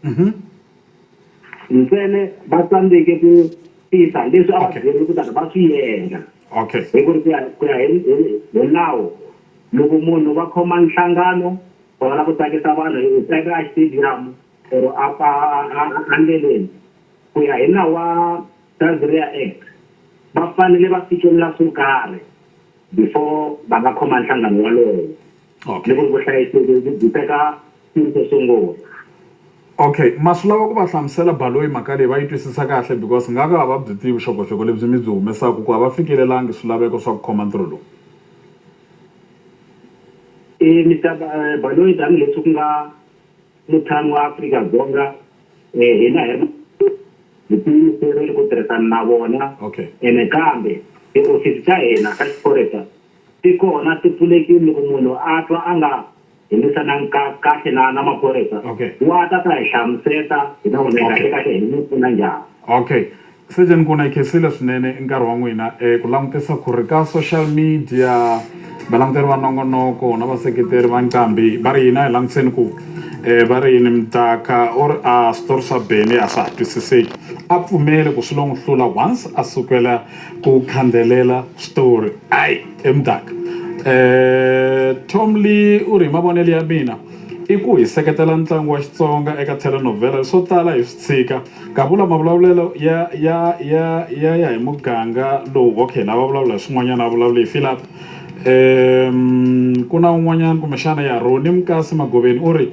mhm. ntsene va tsandzeke ku tisa leswi a va byeriwe ku tani va swi endla okay hi ku ri ku ya ku ya hi nawu loko munhu va khoma nhlangano va va la ku tsakisa vanhu hi tsaka a stadium or a a ndleleni ku ya hi nawu wa Tanzania Act va fanele va fikelela swo karhi before va nga khoma nhlangano walowo Okay. loko vuhlayiseki byi byi teka xiri xo sungula. Okay, ma swi lava ku va hlamusela Baloyi mhaka leyi va yi twisisa kahle because nga ka a va byi tivi vuxokoxoko lebyi mi byi humesaka ku a va fikelelangi swilaveko swa ku khoma ntirho lowu. E Mister Ba, Baloyi tani leswi ku nga mutshami wa Afrika-Dzonga, e hina hi ri na hi tiyimiserile ku tirhisana na vona Okay. ene kambe tihofisi ta hina ta xiphorisa Ti kona, ti pfulekile loko munhu a twa a nga hembisanangi ka, kahle na, na maphorisa, Okay. wa ta ta hi hlamuseta, hi ta vonela Okay. kahle-kahle hi n'wi pfuna njhani. Okay. Surgeon Nkuna, hi khensile swinene i nkarhi wa n'wina. E, ku langutisa ku ri ka social media, valanguteri va nongonoko na vaseketeri va Nqambi va ri yini, a hi langutiseni ku, e, va ri yini. Mdaka u ri, A, switori swa Bennie a swa ha twisiseki. A pfumele ku swi lo n'wi hlula once a sukela. Ku khandelela switori ai he muganga Tom Lee u ri hi mavonelo ya mina i ku hi seketela ntlangu wa Xitsonga eka telenovhele swo tala hi swi tshika ka vula mavulavulelo ya ya ya ya ya hi muganga lowu okay lava vulavula hi swin'wanyana a vulavula hi file up ku na un'wanyana kumbexana ya Roni Mukasi Magoveni u ri.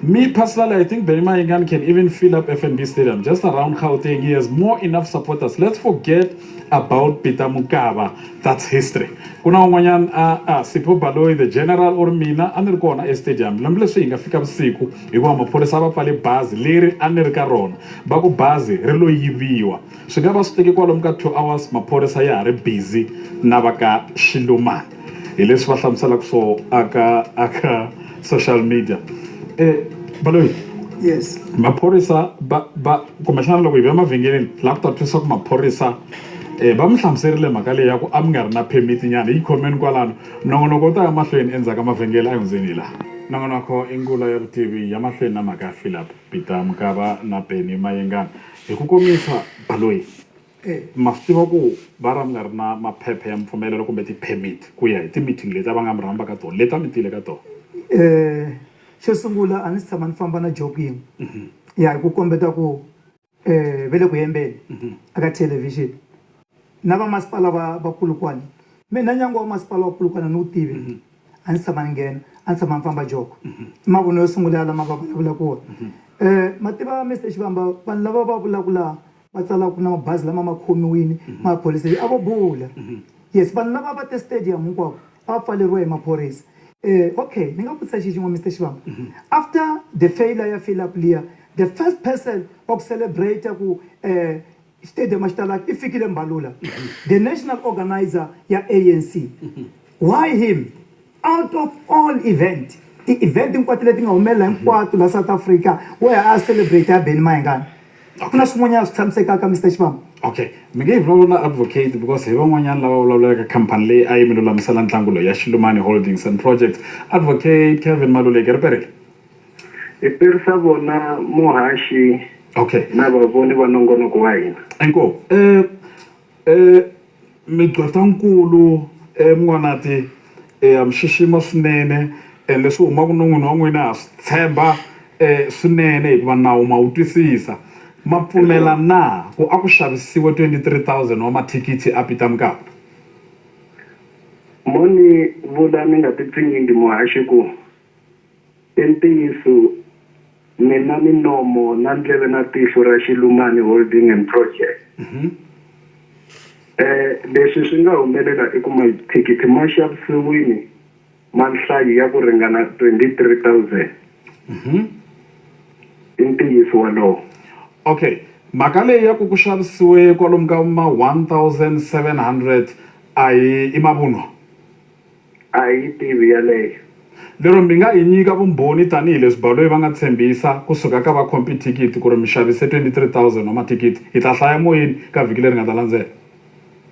Me personally I think Benny Mayengani can even fill up FNB stadium just around Gauteng he has more enough supporters let's forget about Peter Mokaba that's history ku na un'wanyana a a Sipho Baloyi the general or mina a ni ri kona e stadium lomu leswi hi nga fika vusiku hikuva maphorisa a va pfale bazi leri a ni ri ka rona va ku bazi ri lo yiviwa Swi nga va swi teke kwalomu ka two hours maphorisa ya ha ri busy na va ka Xilumani hi leswi va hlamuselaka swo a ka a ka social media Baloyi yes maphorisa va va kumbexana loko hi vuya mavhengeleni hi lava ku ta twisisa ku maphorisa va mi hlamuserile mhaka leyi ya ku a mi nga ri na permit nyana yi khomeni kwalano nongonoko wu ta ya mahlweni endzhaku ka mavhengele a hi hundzeni hi laha. Nongonoko i ngulo ya vutivi ya mahlweni na mhaka Philip Peter Mukaba na Benny Mayengani Hi ku komisa, Baloyi ma swi tiva ku va ra mi nga ri na maphepha ya mipfumelelo kumbe ti-permit ku ya hi ti-meeting leti a va nga mi rhamba ka tona, leti a mi tile ka tona? Xo sungula a ni si tshama ni famba na Jock yin'we ya hi ku kombeta ku ve le ku hembeni a ka thelevhixini na vamasipala va vakulu kwale. Mina nyangwa wa masipala wa Polokwane a ni wu tivi. a ndzi tshama ni nghena a ndzi tshama ni famba joko i mavunwa yo sungula ya lama va vulavulaka wona um ma tiva Mister Xivamba vanhu lava va vulaka laha va tsalaka na mabazi lama ma khomiwile maphorisa a vo bula yes vanhu lava va te stadium hinkwavo a va pfaleriwa hi maphorisa um okay ni nga vutisa xi xin'we Mister Xivamba after the failure ya fill up liya the first person wa ku celebrate ku um. Xitediyamu xi talaka i fikile Mbalula the national organiser ya ANC why him out of all event ti event hinkwato leti nga humelela hinkwato la South Africa wehe a ya celebrate ya Benny Mayengani a ku na swin'wanyana swi tshamisekaka Mister Xivambu. Okay mi nge hi vulavula na advocate because hi van'wanyana lava vulavulelaka company leyi a yi mi lulamisela ntlangu loyi ya Xilumani Holdings and Projects advocate Kevin Maluleke ri perile. Hi perisa vona muhaxi okay na vavoni va nongonoko wa hina. Inkomu eh eh migqwetankulu eh N'wanati eh ha mi xixima swinene and leswi humaka non'wini wa n'wina ha swi tshemba eh swinene hikuva nawu ma wu twisisa ma pfumela na ku a ku xavisiwe twenty three thousand wa mathikithi a Peter Mokaba. Mo ni vula ni nga ti pfinyingi muhaxi ku. I ntiyiso, ni na minomo na ndleve na tihlo ra Xilumani Holding and Projects. Leswi swi nga humelela i ku mathikithi ma xavisiwile ma nhlayo ya ku ringana 23,000. I ntiyiso wolowo. Okay. Mhaka leyi ya ku ku xavisiwe kwalomu ka ma 1,700 a hi i mavunwa? A hi yi tivi yaleyo. Lero mi nga hi nyika vumbhoni tanihi leswi baloyi va nga tshembisa ku suka ka vakhompi-thikithi ku ri mi xavise 23,000 wa mathikithi? Hi ta hlaya moyeni ka vhiki leri nga ta landzela.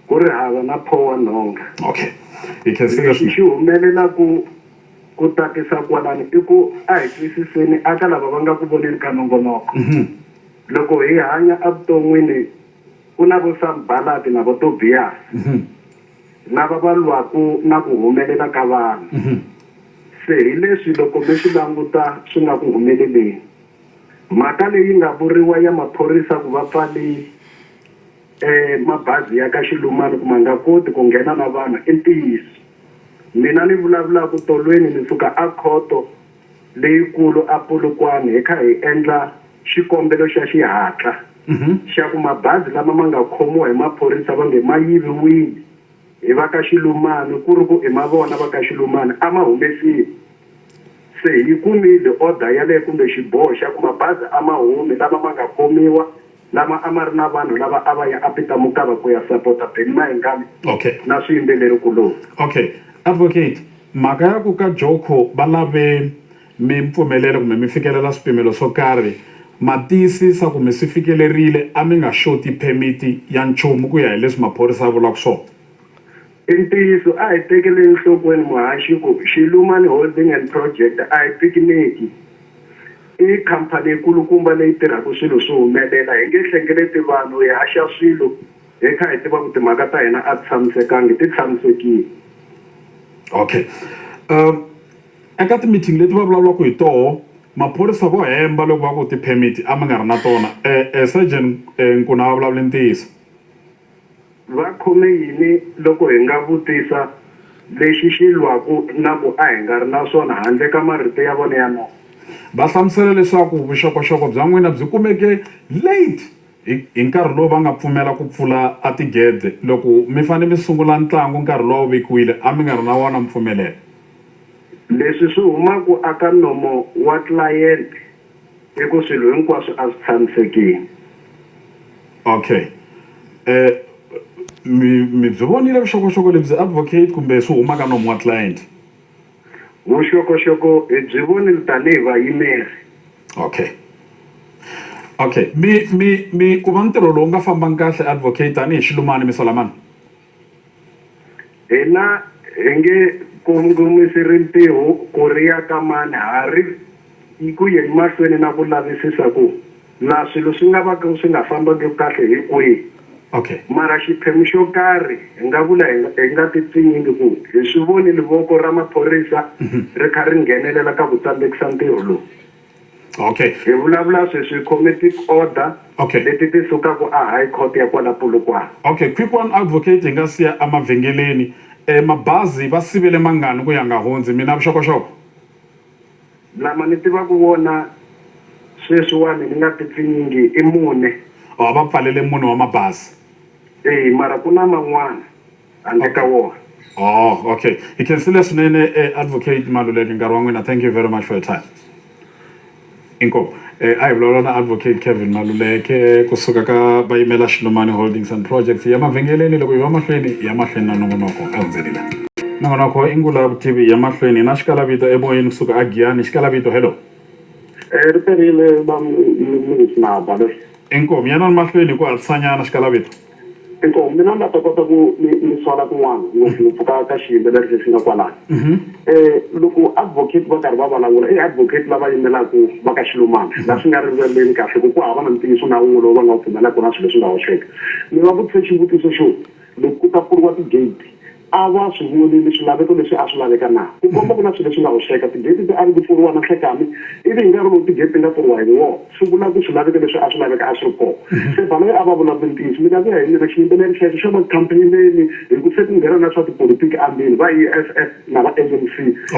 Ku ri hava na pho wa nhonga. Okay. Hi khensile Lexi swinene. xi humelelaku ku tatisa kwalano i ku a hi twisiseni aka lava va nga ku voneni ka nongonoko. Loko hi hanya evuton'wini ku na vo Sanbalati na vo Tobiyasi. lava va lwaka na ku humelela ka vanhu. Se hi leswi loko mi swi languta swi nga ku humeleleni. Mhaka leyi nga vuriwa ya maphorisa ku va pfale mabazi ya ka Xilumani ku ma nga koti ku nghena na vanhu i ntiyiso. Mina ni vulavulaka tolweni ni suka a Khoto leyikulu a Polokwane hi kha hi endla xikombelo xa xihatla xa ku mabazi lama ma nga khomiwa hi maphorisa va nge ma yiviwile hi va ka Xilumani ku ri ku i ma vona va ka Xilumani a ma humesiwe. Se hi yi kumile order yaleyo kumbe xiboho xa ku mabazi a ma humi lama ma nga khomiwa. lama a ma ri na vanhu lava a va ya Apita Mukaba ku ya sapota Benny Mayengani Okay. na swiyimbeleri-kuloni. Okay. Advocate, mhaka ya ku ka Joko va lave mi mpfumelela kumbe mi fikelela swipimelo swo karhi, ma tiyisisa ku mi swi fikelerile, a mi nga xoti phemiti ya nchumu ku ya hi leswi maphorisa ya vulaka swona? I ntiyiso, a hi tekeleni nhlokweni muhaxi ku Xilumani Holding and Project a hi pikiniki. I khamphani yi kulukumba leyi tirhaka swilo swi humelela. Hi nge hlengeleti vanhu, hi haxa swilo hi kha hi tiva ku timhaka ta hina a ti tshamisekangi, ti tshamisekile. Okay. Um, eka ti-meeting leti va vulavulaka hi toho maphorisa vo hemba loko va ku ti-permit a mi nga ri na tona. E, e Surgeon e, Nkuna a va vulavule ntiyiso. Va khome yini loko hi nga vutisa lexi xi lwaku na ku a hi nga ri na swona handle ka marito ya vona ya nomo? Va hlamusele leswaku vuxokoxoko bya n'wina byi kumeke late hi hi nkarhi lowu va nga pfumela ku pfula a tigede. Loko mi fanele mi sungula ntlangu nkarhi lowu a wu vekiwile, a mi nga ri na wona mpfumelelo. Leswi swi huma ku aka nomo wa tlilayente. I ku swilo hinkwaswo a swi tshamisekile. Okay. Eh, mi, mi byi vonile vuxokoxoko lebyi advocate kumbe swi huma ka nomu wa client? Vuxokoxoko hi byi vonile tanihi vayimeri. Okay. Okay. Mi, mi, mi ku va ntirho lowu nga fambangi kahle advocate tanihi xilumani mi sola mani? Hina hi nge kongomisi rimpiho ku ri ya ka mani, ha ri ku yeni mahlweni na ku lavisisa ku laha swilo swi nga va ka swi nga fambangi kahle hi kwihi. Okay. Mara xiphemu xo karhi hi nga vula hi nga hi nga ti pfinyingi ku hi swi vonile voko ra maphorisa ri kha ri nghenelela ka ku tsandekisa ntirho lowu. Okay. Hi vulavula sweswi khome ti order Okay. leti ti sukaka a High Court ya kwala Polokwane. Okay, Quick One Advocate hi nga siya emavhengeleni eh, mabazi va sivele mangani ku ya nga hundzi, mi na vuxokoxoko? Lama ni tivaka wona sweswiwani ni nga ti pfinyingi i mune. Oh, va pfalele mune wa mabazi. Eya, mara ku na man'wana. handle ka wona. Oh okay hi khensile swinene Advocate Maluleke nkarhi wa n'wina thank you very much for your time. Inkomu a hi vulavula na Advocate Kevin Maluleke kusuka ka va yimela Xilumani Holdings and Projects hi ya mavhengeleni loko hi va mahlweni hi ya mahlweni na nongonoko a hundzeni la. Nongonoko i Ngula Vutivi hi ya mahlweni na xikalavito emoyeni kusuka a Giyani xikalavito hello. Ri perile va Lunghismaba loyi. Inkomu yanani mahlweni hi ku hatlisanyana xikalavito. inkomu mina ni nga ta kota ku ni ni swala kun'wana ngopfungopfu ka ka xiyimbeleri lexi nga kwalano um loko advocate va karhi va vulavula i advocate lava yimelaka va ka xilumana laha swi nga rivaleni kahle ku ku hava na ntiyiso na wun'we lowu va nga wu pfumelaka na swilo leswi nga hoxeka ni va vutise xivutiso xo loko ku ta pfuriwa ti-gate A va swi vonile swilaveko leswi a swi laveka na ku komba ku na swilo leswi nga hoxeka. Tigeti ti ari ku pfuriwa na nhlekani, ivi hi nkarhi lowu tigeti ti nga pfuriwa hi wona, swi vula ku swilaveko leswi a swi laveka a swi ri kona. Se Baloyi a va vulavule ntiyiso. Mina ku ya hi mina xiyimbeleri xexo xo va campaign-eni hi ku se ku nghena na swa tipolitiki andini, va EFF na va ANC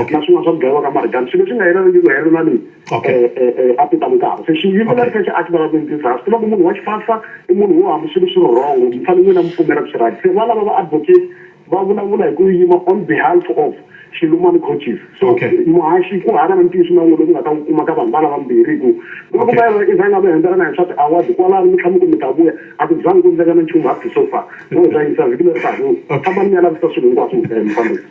na swin'wana swa ku dlayiwa ka Marikana, swilo leswi nga yelaniku hi ku helela na leyi. Okay. eh, eh, eh, a ti ta mukava se xiyimbeleri Okay. xexo a xi vulavuli ntiyiso a swi tiva ku munhu wa xifahla i munhu wo hambi swilo swi ri wrong mi fanele n'wina mi pfumela ku swi right se va lava va advocate va vulavula hi ku yima on behalf of xilumani coaches so Okay. muhaxi ku hava na ntiyiso na wun'we lowu nga ta wu kuma ka vanhu va lava mbirhi hi ku loko Okay. mayelana i zanga mi hembelana hi swa ti-award kwalano mi tlhama ku mi ta vuya a ku zangi ku ndleka na nchumu up to so far no hi ta yisa vhiki leri taka Okay. fambani mi ya lavisisa swilo hinkwaswo mi ta ya mi fambisa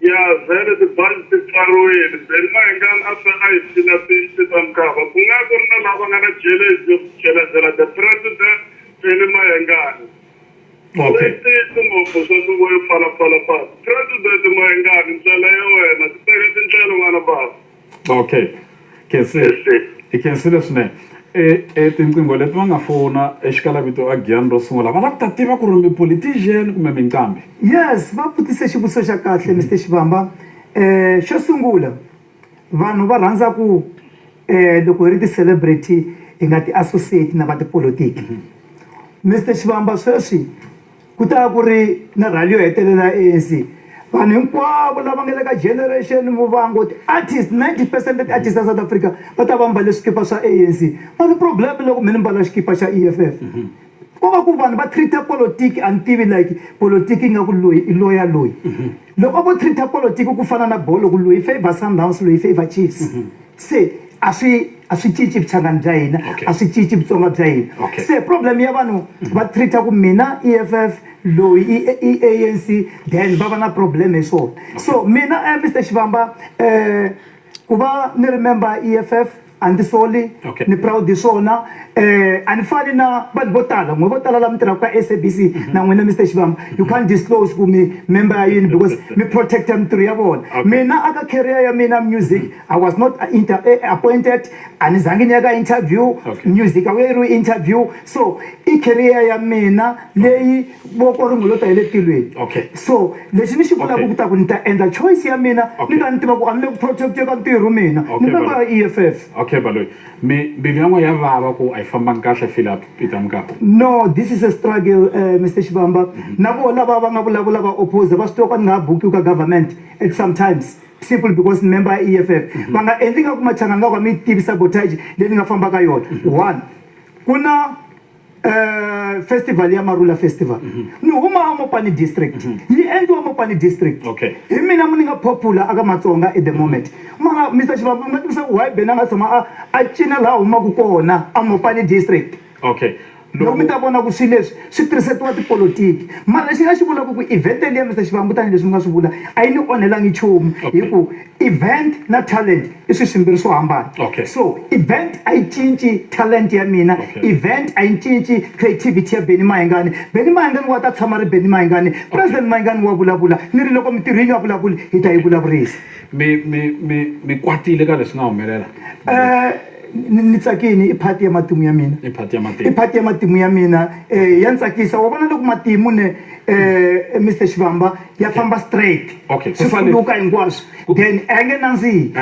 Ya vhele tibazi ti pfariwile. Benny Mahingani a tlhela a yi phina Pinci ta Mkhava. Ku nga ku ri na lava nga na jelezi ya ku jelezela The President Benny Mahingani. Okay. I ntiyiso ngopfu swa nhluvo yo pfalapfala patu. President Mahingani, ndlela ya wena. Titeka tindlela n'wana bava. Okay khensile hi khensile swinene e tinqingho leti va nga fona exikalavito a giyani ro sungula va lava ku ta tiva ku ri mi politician kumbe mi nqambi yes va vutise xivutiso xa kahle Mister Xivamba um xo sungula vanhu va rhandza ku um loko hi ri ti-celebrity hi nga ti-associate na va tipolotiki Mister Xivamba sweswi. Ku ta ku ri na rhali yo hetelela ya ANC. Vanhu hinkwavo lava nga le ka Generation Muvhango, ti-artist, 90 percent ta ti-artist ta South Africa va ta va mbale swikipa swa ANC. Mara problem loko me ni mbala xikipa xa E_F_F, ko va ku vanhu va treat-a politiki a ni tivi like politiki ingaku loyi i loya loyi. Loko vo treat-a politiki ku fana na bolo ku loyi i favour Sundowns loyi i favour Chiefs se a swi a swi cinci vuchangani bya hina a swi cinci vutsonga bya hina se problem ya vanhu va treat-a ku mina E_F_F loyi i A_N_C then va va na problem hi swona so mina Mister Xivamba ku va ni ri member E_F_F. a ndzi soli okay. ni proud hi swona eh a ni fani na vanhu vo tala n'we vo tala la mi tirhaka ka SABC mm -hmm. na n'wina Mr Xivamba mm -hmm. you can't disclose ku mi member ya yini because mi protector mintirho ya vona okay. mina aka career ya mina music mm -hmm. I was not uh, inter eh, appointed a ni zangi ni ya ka interview okay. music a wu yeriwi interview so i career ya mina leyi okay. voko ri n'wi lo ta hi le tilweni okay so lexi ni xi vulaka okay. ku ta ku ni ta endla choice ya mina okay. ni ka ni tiva ku a ni le ku protect ka ntirho mina okay, ni member ya eff okay baloyi mi mbilu ya n'we ya vava ku a yi fambangi kahle feel up peter mukapa no this is a struggle uh, eh, mr xivamba mm -hmm. na vo lava va nga vulavula va oppose va swi tiva ku a ni nga ha bukiwi ka government at sometimes simple because ni member ya eff mm -hmm. va nga endli nga ku machangani nga ku a mi yi tivisa botage leyi ni nga fambaka yona mm -hmm. one ku na Uh, festival ya marula festival mm -hmm. ni huma amopani district mm -hmm. yi endliwa amopani district okay. hi mina mu ni nga popular aka matsonga at the moment mm -hmm. mara mr xivambu mi nga tivisa ku why bena nga tshama a a cina laha humaka kona amopani district okay loko mi ta vona ku swilo leswi swi tirhisetiwa tipolotiki mara lexi nga xi vulaka ku event liya mr xivambu tanihileswi mi nga swi vula a yi ni onhelangi nchumu hi ku Event na talent i swiswimbirhi swo hambana okay. so event a yi cinci talent ya mina okay. event a yi cinci creativity ya Benny Mayengani Benny Mayengani wa ta tshama ri Benny Mayengani okay. president Mayengani wa vulavula ni ri loko mitirho yi nga vulavuli hi ta yi vulavurisa mi mi mi mi kwatile ka leswi nga humelela eh ni tsakini i phati ya matimu ya mina i phati ya matimu i phati ya matimu ya mina eh ya ni tsakisa wa vona loko matimu ne eh Mr Xivamba ya famba straight okay. swi pfuluka hinkwaswo then a ya nge nandzihi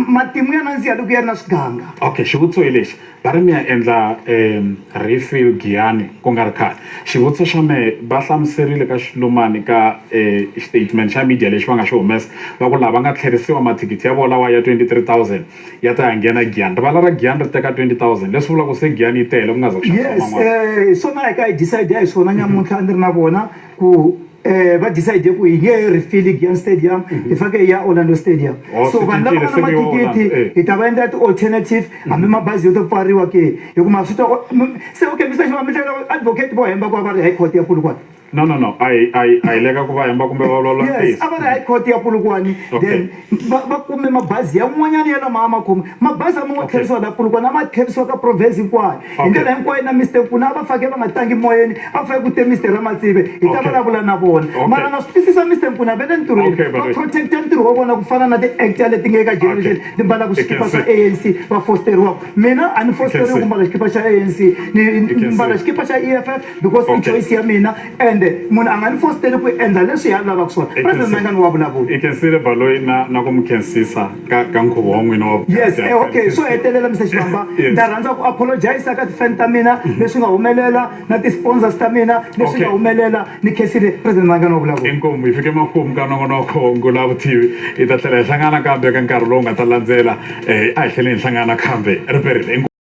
matimu ya nandziha loko ya ri na swiganga okay xivutiso hi lexi va ri mi ya endla um refill giyani ku nga ri khale xivutiso xa mehe va hlamuserile ka xilumani ka um statement xa media lexi va nga xi humesa va ku lava nga tlherisiwa mathikithi ya vona lawa ya twenty three thousand ya ta ya nghena giyani rivala ra giyani ri teka twenty thousand leswi vulaka ku se giyani yi tele ku nga za ku xavisaman'wana eh, swona hi ka hi decide hi swona nyamuntlha a ni ri na vona ku eh va decide ku hi nge he ri fili Giant Stadium hi fake hi ya Orlando Stadium Oh, so swi vanhu lava cincile, nga na se ku yo mathikithi Orlando, eh. hi ta va endla ti-alternative hambi mabazi yo to pfariwa ke hikuva swi ta o- m- se okay Mister Xiva mi tlhela advocate vo hemba ku va va ri high court ya Polokwane no no no a hi a hi a hi leka ku va hemba kumbe va vulavula yes ntiyiso a va ri high court ya Polokwane Okay. then Va va kume mabazi yan'wanyana ya lama a ma khome. Mabazi a ma ngo Okay. tlherisiwa laha Polokwane, a ma tlherisiwa ka province hinkwayo. Hi Okay. ndlela hinkwayo na Mister Nkuna a va fake va nga tangi moyeni, a va fake ku te Mister Ramatsive hi ta Okay. vulavula na vona. Okay. Mara na swi twisisa Mister Nkuna va le ntirhweni, Okay, va Bareki. protect-a ntirho wa vona ku fana na ti-actor leti nge ka generation Okay. ti mbalaka I can swikipa swa see. ANC va fosteriwaka. Mina a ni fosteriwi see. ku mbala xikipa xa ANC, ni can mbala see. xikipa xa EFF because i Okay. choice ya mina. ende munhu a nga ni fositeli ku endla leswi ya lavaka swona president mangani wa vulavula i khensile baloyi na na ku mi khensisa ka ka nkhuvo wa n'wina wa yes eh, okay swo hetelela mr xivamba ndza rhandza ku apologisa ka tifan ta mina mhm. leswi nga humelela na ti-sponsors ta mina leswi nga humelela ni khensile president mangani wa vulavula inkomu hi fike makumu ka nongonoko ngula vutivi hi ta tlhela hi hlangana kambe ka nkarhi lowu nga ta landzela um a hi tlheleni hi hlangana kambe riperile